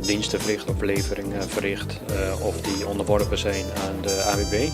Diensten verricht of levering verricht of die onderworpen zijn aan de AWB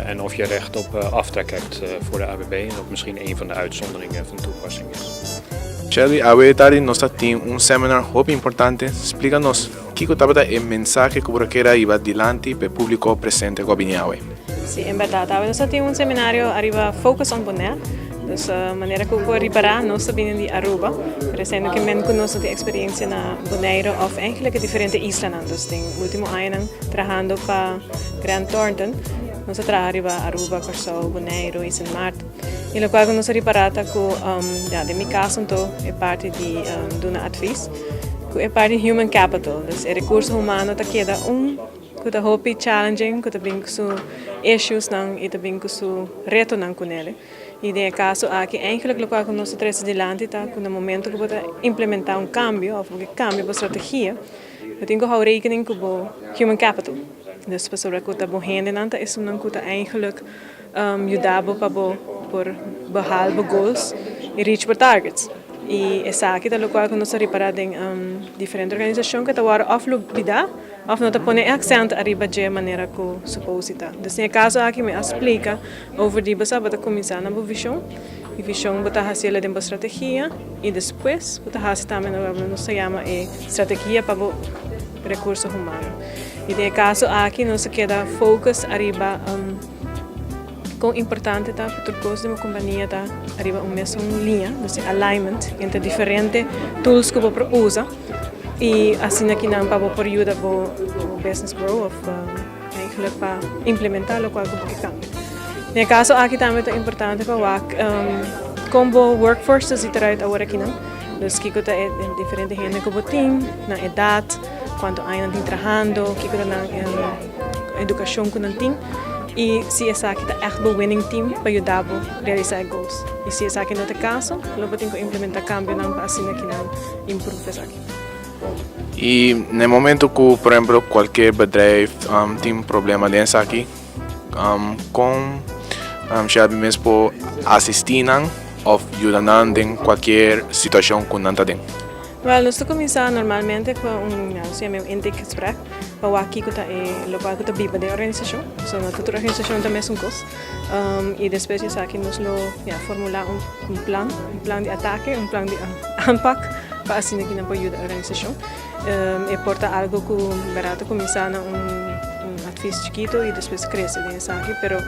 en of je recht op aftrek hebt voor de AWB en of misschien een van de uitzonderingen van toepassing is. Shelby, awe e tardi nos ta tin un seminar hopi importante, splica nos kico tabata e mensahe cu bo ta keda hiba dilanti p'e publico presente cu a bini awe. Sí, en berdad. Awe nos a tin un seminario ariba Focus on Bonaire. Dus manera cu por ripara, nos ta bini di Aruba, pero eseyendo cu men cu nos no tin experiencia na Bonaire of eigenlijk e diferente islanan. Dus den ultimo añanan trahando pa Grant Thornton, nos a traha riba Aruba, Curaçao, Bonaire y Sint Maarten. Y locual cu nos a ripara ta cu, ya, den mi caso anto, e parti di duna advis, cu e parti human capital, dus e recurso humano ta keda un. cu ta hopi challenging, cu ta bini cu su issuesnan y ta bini cu su retonan cu nel. Y den e caso aki, eigenlijk locual cu nos ta trece dilanti ta cu na momento cu bo ta implementa un cambio of bo ke cambia bo strategia, bo tin cu hou rekening cu bo human capital. Dus pasobra cu ta bo hendenan ta esunnan cu ta eigenlijk. yuda bo pa bo por baha bo goals i reach bo targets. I esaki ta lokual ku nos ta repará den diferente organisashon ku ta wòrdu òf lubidá òf no ta pone e aksènt ariba dje manera ku supos di ta. Dus den e kaso aki mi a splika over di bo sa bo ta kuminsá na bo vishon i vishon bo ta hasiel la den bo strategia i despues bo ta hasi tambe na loke nos ta yama e strategia pa bo rekurso humano. I den e kaso aki nos a keda focus ariba. Kon importante ta ku tur kos den bo kompania ta riba un mesun liña, nos tin alignment entre diferente tools ku bo por usa i asina ki nan pa bo por yuda bo business grow òf aigelik pa implementá lokual ku bo ke kambia. Den e kaso aki tambe ta importante pa wak kon bo workforce ta si trei awor akinan, dus kiko ta e diferente hende ku bo tin, nan edat, kuantu aña nan tin trahando, kiko ta nan. edukashon ku nan tin i si esaki ta ègt bo winning team pa yuda bo realisá e gols. I si esaki no ta e kaso, lo bo tin ku implementá kambionan pa asina ke nan improve esaki. I na e momentu ku por ehempel kualke bedrijf tin problema den esaki, kon Shelby mes por asistí nan òf yuda nan den kualkier situashon ku nan ta den? Wel, nos ta kuminsá normalmente ku un, nos yama e un intake gesprek pa wak kiko ta e lokual ku ta biba den organisashon, pasobra no ta tur organisashon ta mesun kos, i despues di esaki nos lo ya formulá un plan, un plan di atake, un plan di aanpak pa asina kinan por yuda e organisashon, e por ta algu ku bera ta kuminsá na un atvis chikitu i despues krese den esaki pero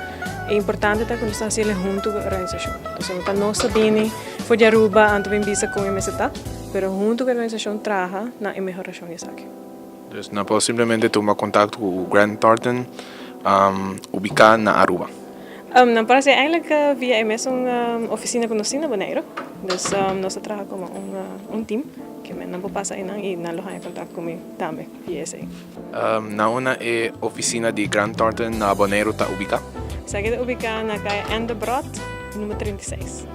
e importante ta ku nos ta hasiel e huntu ku e organisashon, pasobra pa nos ta bini. For di Aruba anto bin bisa kon e mester ta, pero hunto ku e organisashon traha na e mehorashon di esaki. Dus nan por simplemente tuma kontakto ku Grant Thornton ubiká na Aruba. Nan por hasi eindelijk via e mesun ofisina ku nos tin na Boneiru. Dus nos ta traha komo un tim, ke men nan por pasa einan i nan lo haña kontakto ku mi tambe. di esei. Na una e oficina di Grant Thornton na Boneiru ta ubica? Esaki ta ubica na caya Ann de Brot, numero trinta i seis.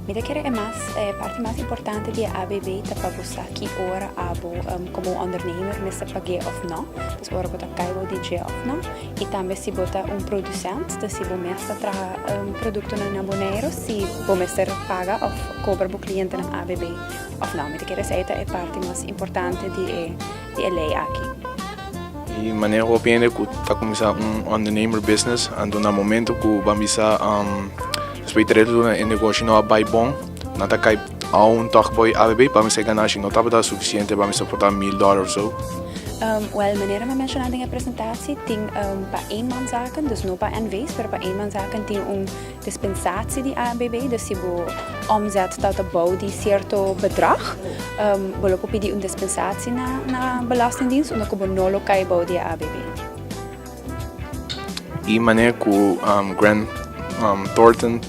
Mi ta kere e mas, e parti mas importante di e ABB ta pa bo sa ki ora abo como un ondernemer mester pag'e of no, dus ora bo ta cay bo di dje of no, y tambe si bo ta un producent, dus si bo mes ta traha productonan na Boneiru, si bo mester paga of cobra bo clientenan ABB. Of no, mi ta kere esei ta e parti mas importante di e di e lei aki. Di manera hopi hende ku ta kuminsá un ondernemer business a duna e momento ku ban bisa respecto di duna e negoshi no a bai bon nan ta kai aun tòg bo ei abb pa mester ganá shi no tabata sufisiente pa mester portá mil dòler òf so. Wèl, manera mi a menshoná den e presentashi tin pa eenmanszaken, dus no pa NV's pero pa eenmanszaken tin un Dispensatie di ANBB, dus si bo omzet ta ta bou di cierto bedrag, bo lo por pidi un dispensatie na na Belastingdienst unda cu bo no lo cay bou di e ABB. E manera cu Grant Thornton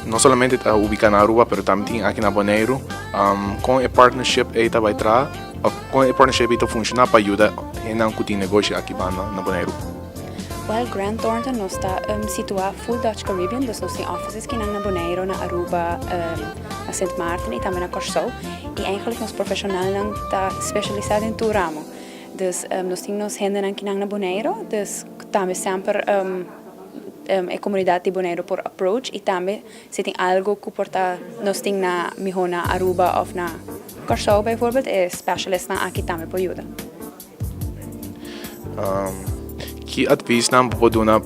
no solamente ta ubica na Aruba pero tambe tin aki na Boneiru, con e partnership ey ta bay traha, con e partnership ey ta funciona pa yuda hendenan cu tin negoshi aki banda na Boneiru. Well Grant Thornton nos ta um situa full Dutch Caribbean dus nos tin offices kinan na Boneiro, na Aruba, um na Sint Maarten y tambe na Corsou y eigenlijk nos profesionalnan ta specialisa den tur ramo dus um nos tin nos hendenan kinan na Boneiro dus cu tambe semper um um e comunidad di Boneiro por approach y tambe si tin algo cu por ta nos tin na miho na Aruba of na Corsou bijvoorbeeld e specialistnan aki tambe por yuda. Ki advisnan bo por duna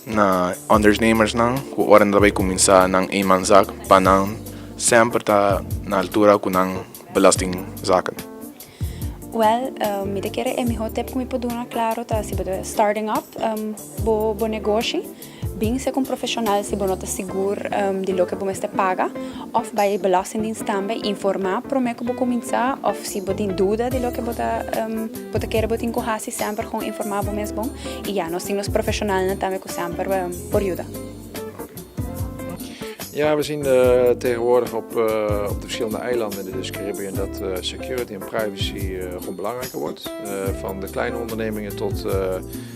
na ondernemersnan ku ora nan ta bai kuminsá nan eenmanszaak pa nan semper ta na altura ku nan belastingzaken? Wèl, mi ta kere e mihó tèp ku mi por duna, klaro, ta si bo ta starting up bo negoshi. Bin segun profesional si bo no ta sigur di loke bo mester paga of bai e belastingdienst tambe informa prome ku bo kuminsá of si bo tin duda di loke bo ta kere bo tin ku hasi semper kon informa bo mes bon i ya nos tin nos profesionalnan tambe ku semper por yuda. Ja we zien tegenwoordig op de verschillende eilanden in de Caribbean dat security en privacy gewoon belangrijker wordt. Van de kleine ondernemingen tot